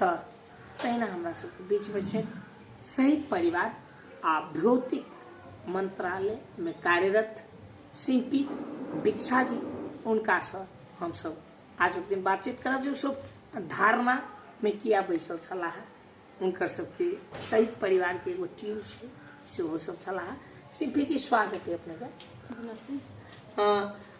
तऽ तहिना हमरा सबके बीचमे छै शहीद परिवार आ भौतिक मन्त्रालयमे कार्यरत शिल्पी भिक्षा जी हुनकासँ हमसब आजुक दिन बातचीत करब जे सब धारणामे किया बैसल छलाह हुनकर सबके शहीद परिवारके एगो टीम छै सेहो सब छलाह शिल्पी जी स्वागत है अपनेके नमस्ते अ,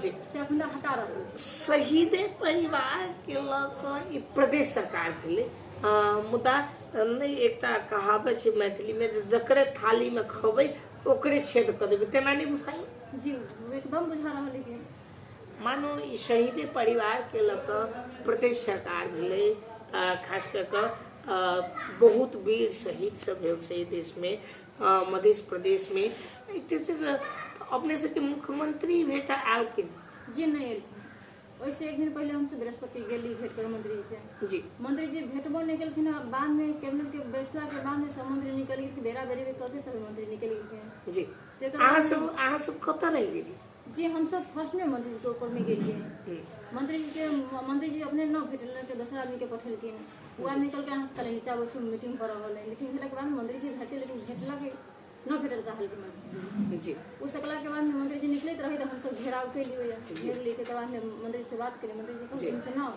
जी से अखन तक हटा रहल शहीदे परिवारके लऽ कऽ ई प्रदेश सरकार भेलै अ, मुदा नहि एकटा कहावत छै मैथिलीमे जे जकरे थालीमे खबै ओकरे छेद कऽ देबै तेना नहि बुझाइ जी ओ एकदम बुझा रहल है कि मानो ई शहीदे परिवारके लऽ कऽ प्रदेश सरकार भेलै अ, खास कऽ कऽ अ, बहुत वीर शहीद सब भेल छै एहि देशमे मध्य प्रदेश में अपने से के मुख्यमंत्री भेटा आल के जी नहीं एलखिन ओहिसँ एक दिन पहिले हमसभ बृहस्पति गेली भेट कर मंत्रीसँ जी मंत्री जी भेटबो नहि केलखिन आ बादमे कैबिनेटके बैसलाके बादमे सब मंत्री निकलि गेलखिन बेरा बेरी भी कहते सब मंत्री निकलि गेलखिन जी तेकर अहाँ बाद- सब अहाँ सब कतऽ रहि गेली जी हमसभ फर्स्टमे मंत्री जीके ऊपरमे गेलियै मंत्री जीके मंत्री जी अपने न भेटल के दोसर आदमीके पठेलखिन पूरा निकल के अहाँ से नीचा बैसू मीटिंग कर रहल है मीटिंग भेला के बाद मंत्री जी भेटे लेकिन भेटला के न भेटल चाहल के मंत्री जी उ सकला के बाद में मंत्री जी निकलैत रही तऽ हमसब घेराव के लिए घेर लिए के बाद में मंत्री से बात करी मंत्री जी कहलखिन से ना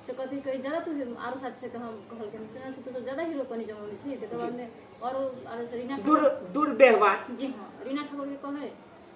से कथी कही ज्यादा तू आरो साथी से हम कहलखिन से ना से तू सब ज्यादा हीरो कनी जमौले छी तकर बाद में आरो आरो से रीना ठाकुर- दुर दुर्व्यवहार जी हाँ रीना ठाकुर के कहे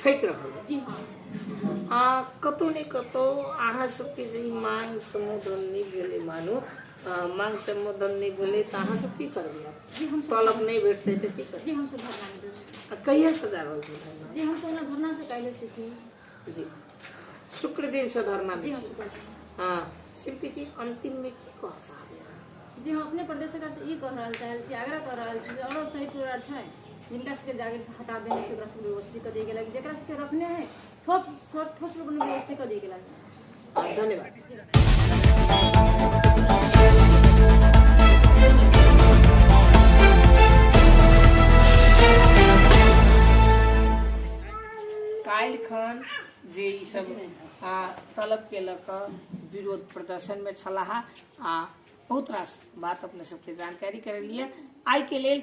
ठकि रहल अछि आ कतहु ने कतहु अहाँ सबके जे ई मांग सम्बोधन नहि भेलै मानू अ, मांग सम्बोधन नहि भेलै तऽ अहाँ सब की करबै जी हम तलब नहि भेटतै तऽ की करबै जी हम सब भगवान देबै आ कहिया सजा रहल छै धरना? जी हम सब धरना से काल्हि से छी जी शुक्र दिन से धरना जी हाँ, शुक्र हाँ शिल्पी जी अंतिम में की कह चाहबे जी हम अपने प्रदेश सरकार से ई कह रहल चाहल छी आग्रह कह रहल छी जे औरो शहीद परिवार छै जिनका सबके जागीर से हटा देने से ओकरा सबके व्यवस्थित कऽ दिए गेलक जेकरा सबके रखने है ठोस ठोस रूप में व्यवस्थित कऽ दिए गेलक काल्हि खन जे ई सब आ, तलब के लऽ कऽ विरोध प्रदर्शन में छलाह आ बहुत रास बात अपने सबके जानकारी करेलिए आइ के लेल